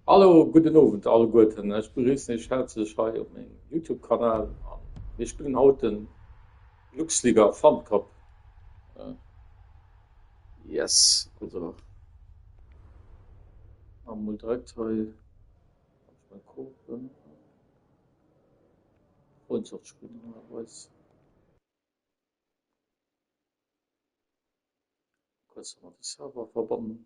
Hallo, gudden Owend alleguerten, ech begriessen iech häerzlech hei op mengem Youtube Kanal an mir spillen haut den Luxliga Pfandkop. Yes, also maache mol direkt hei meng Koopen op, Freundschaft spillen normalerweis. Kuerz mat de Server verbannen.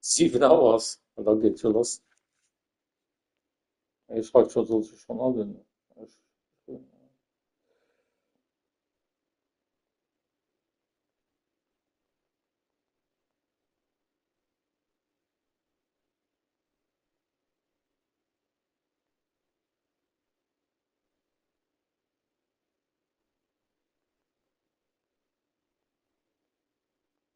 7 hours an da geet se loss. Hie schreift scho, soll sech schonn allen.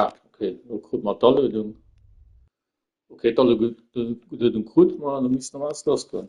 Ah, okay, lo krut mer d'Aluedung. Okay, d'Aluedung krut mer an da misst nach alles lassgoen.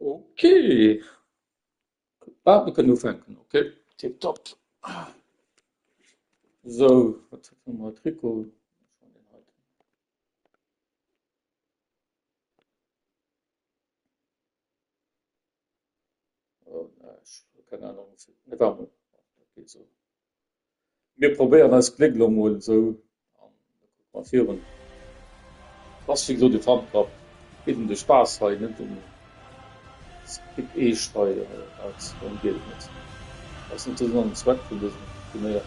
Ok, ah, mir kënnen ufänken. Ok, tipptopp. So, wat hu mer haut? Rico. Keng Ahnung net wahr mol dat geet sou mir probéieren eist Gléck lo mol sou an da kucke mer virun ass wéi gesot ee Funpub geet em de Spaass hei net em Skip eescht hei als drëm geet et net dat ass net de Sënn an Zweck vun dësem Turnéier.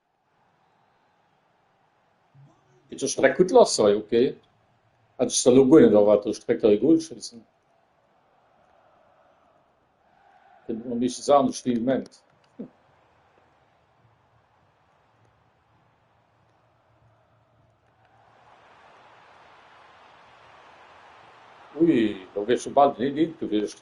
Geet jo schon direkt gudd lass hei, ok hätt ech sou lo guer net erwaart dass ech direkt hei e Goal schéissen. Kënnt ëmmer meeschtens anescht wéi ee mengt. Ui do wier schon bal den 1-1 gewiescht.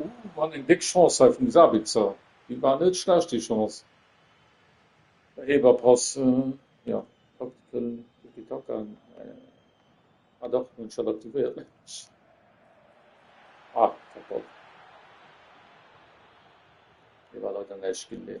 Ooh mat eng déck Chance hei vum Sabitzer, déi war net schlecht déi Chance. Réiberpass jo Taktical Tiki Taka ah dach hunn ech dat aktivéiert mensch ah Kapoll hei war leider näischt ginn nee.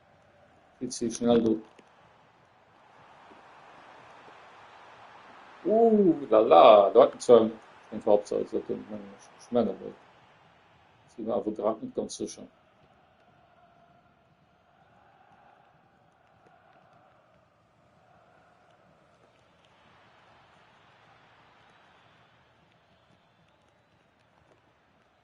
Vill ze schnell do. Ouh, lala, do hat en zwar eng Halbzeit, dat den meng ech. Ech menge mol. Ech si mer awer grad net ganz sécher.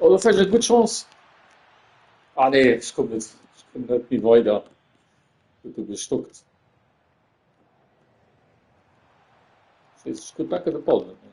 Oh, do fält ech gutt Chance. Ah nee, ech komm net, ech komm net méi weider. Gëtt do gestockt. Ech kréie backe de Ball net méi.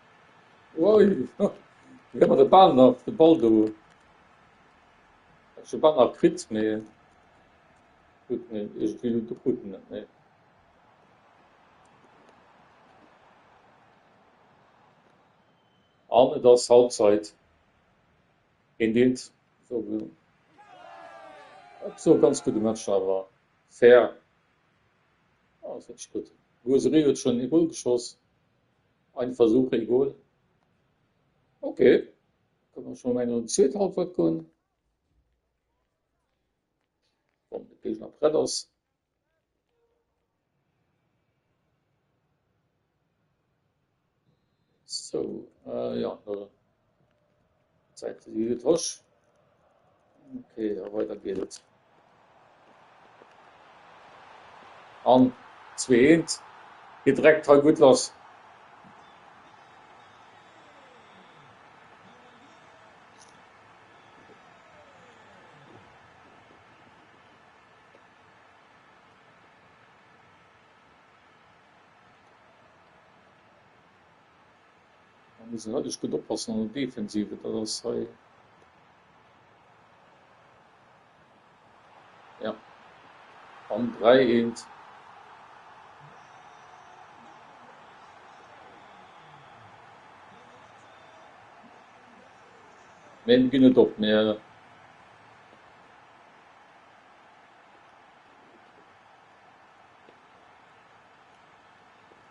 Oi, do gëtt mer de Ball nach, de Ball do. Ech hu Ball nach kritt, mee gutt, mee iergendwéi elo do krut en net, nee. An et ass Halbzeit. Een deelt esou e ganz gudde Match awer, fair, ass wierklech gutt. D'Roseraie huet schonn ee Gol geschoss, Ein Versuch een Goal. Ok, kënne mer scho mengen an déi zweet Halbwert goen, wann de Géigner prett ass. Sou, jo, D'Zäit si gutt droch. Ok, a weider geet et. An zwee eent. Hie dreckt hei gutt lass. Hei muss een wierklech gutt oppassen an der Defensive. Dat ass hei, jo, am 3 eent. Mee mir ginn net op, mir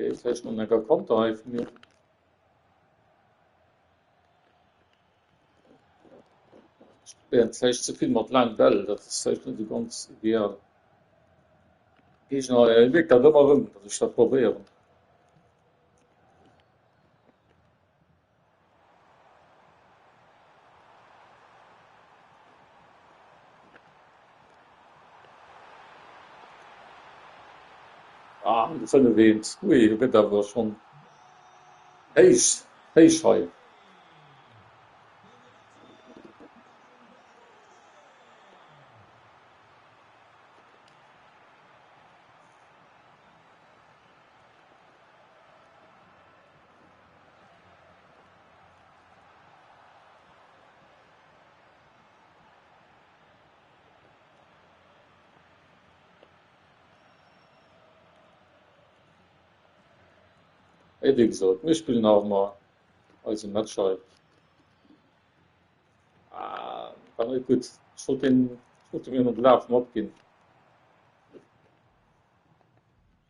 Okay, das heißt, man kann Konter hei von mir. Ja, das heißt, zu viel mit lang Bell, das ist heißt nicht so ganz ideal. Ich noch, äh, wirkt da immer rum, dass ich das probieren. Ah, de fënnef eent. Ui, do gëtt awer schonn héich, héich hei. Et wéi gesot, mir spillen awer mol eise Match hei. Ah, war net gutt. Ech wollt deen Foto mir no de Laf matginn.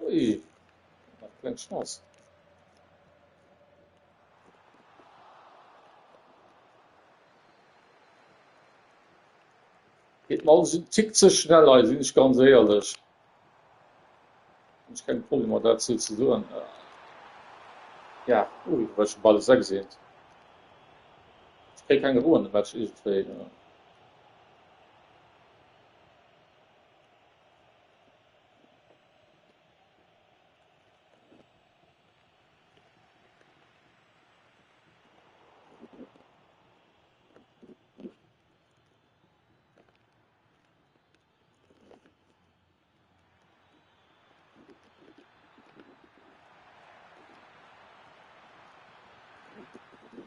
Ui, nach kleng Chance. Geht mal alles en Tick ze schnell hei, sinn ech ganz éierlech. Hun ech keng Problemer daat sou ze soen. Ja ui well ech de Ball esou geseent. Ech kréie keng Ro an de Match iergendwéi.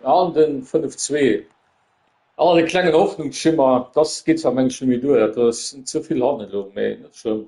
An den 5 zwee an e klengen Hoffnungsschimmer, dass geet zwar mengen ech net méi duer, dat ass ze vill hannen elo, mee net schlëmm.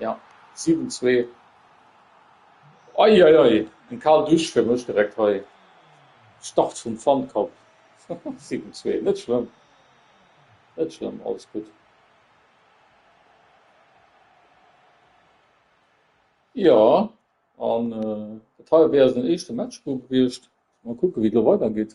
Ja, 7, 2. Eieiei, eng kal Dusch fir mech direkt hei. Start vum Fundcup. 7, 2. Net schlëmm, net schlëmm, alles gutt. Jo, an dat hei wär eisen éischte Match do gewiescht. Mol kucke wéi et elo weidergeet.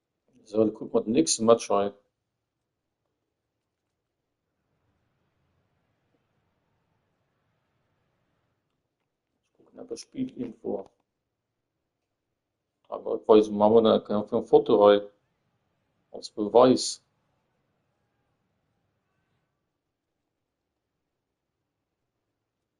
Sou, da kucke mer den nächste Match hei. Ech kucken awer Spielinfo. Ah, wat weise mer mol nach eng fir Foto hei als Beweis.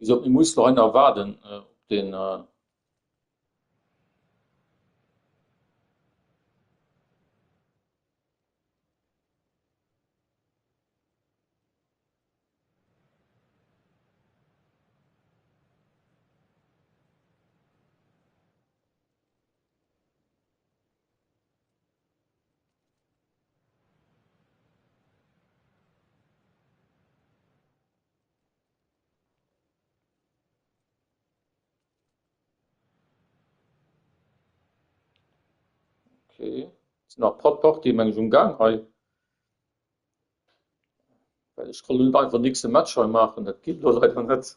Wéisou mir musse hei nach waarden op den Okay. Sind nach paar Party meng um gang hei Well ech kann nun einfach nächste Match hei machen dat geht lo leider net.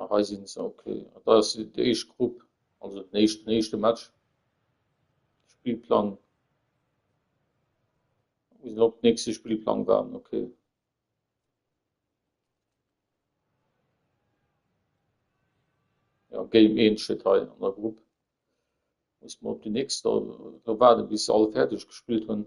Ah hei sinn se, ok. Dat ass déi éischt Grupp, also den éischten éischte Match. Spillplang, wou se op nächste Spillplang waren, ok. Jo Game 1 steet hei an der Grupp, muss mer op déi nächst do do waarden bis se all fäerdeg gespillt hunn.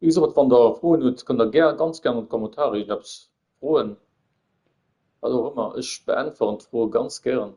Wéi gesot, wann der Froen hutt, kënnt der gär, ganz gär an d'Kommentare iech eppes froen, wat och ëmmer. Ech beäntweren d'Froe ganz gären.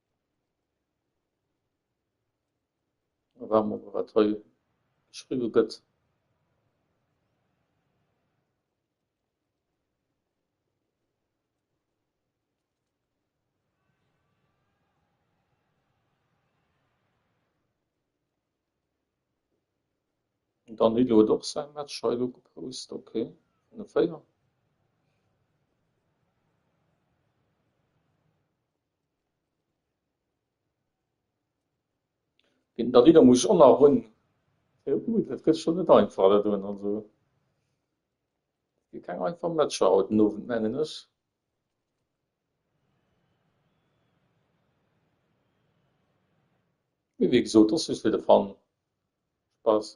Mä waarde mer mol, wat hei geschriwwe gëtt. Den Danilo huet och säi Match hei elo gepost, ok, vun de 4. Den Davide muss och nach run. Ui, dat gëtt scho net einfach dat un. Also gi keng einfach Matcher haut den Owend mengen ech. Mee wéi gesot ass just fir de Fun, Spaass.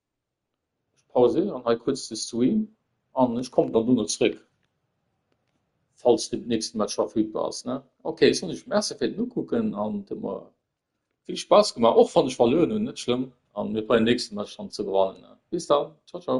Ech pauséieren hei kuerz de Stream an ech kommen dann dono zréck falls den nächsten Match verfügbar ass ne ok Sonic merci fir den ukucken an et huet mer vill Spaass gemaach och wann ech verluer hunn net schlëmm an mir probéieren den nächsten Match dann ze gewannen ne bis dann ciao ciao.